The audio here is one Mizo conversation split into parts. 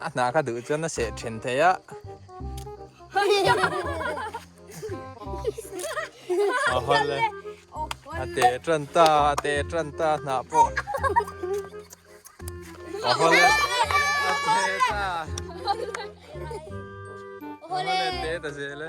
A hna ka duh chuan a seh ṭhen thei a. Ahaw le, a teh ṭan ta, a teh ṭan ta a hna pawh. Ahaw le, a teh ta. Ahaw le, a teh ta zel e.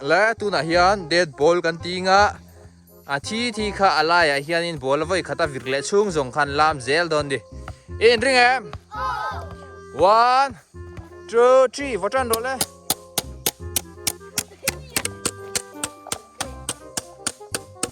Leh tunah hian dad ball kan ti nga, a thi thi kha a laiah hianin ball a vawi khat a vir leh chhung zawng khan lam zel dawn di. I inring em? One, two, three, vawt tan rawh le.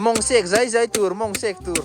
Mawng sek zai zai tur, mawng sek tur.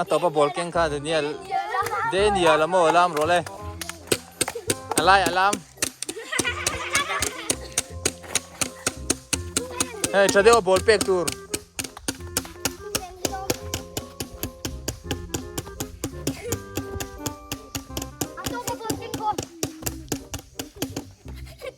a tawpa ball keng kha daniel daniel a maw lam rawh le a lai a lam hei tha deuh ball pek tur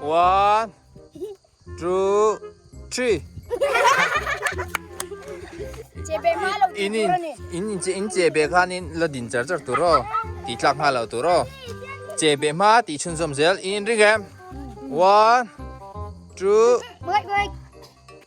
One, two, three. in in in in che in che be khan in la din char char tu ro ti tlak ha lo tu ro che be ma ti chun zom zel in ring em one two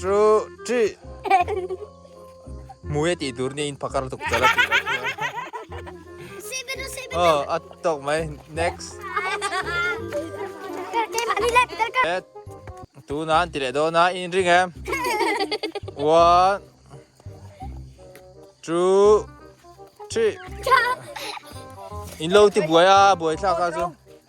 Chu chi Mui a tih tur nia in phakar tuk chal a tih loh nia. Aw a tawk mai next. Let tuna an ti leh dawn a in ring em? One two three. In lo ti buai a buai thlak a chu.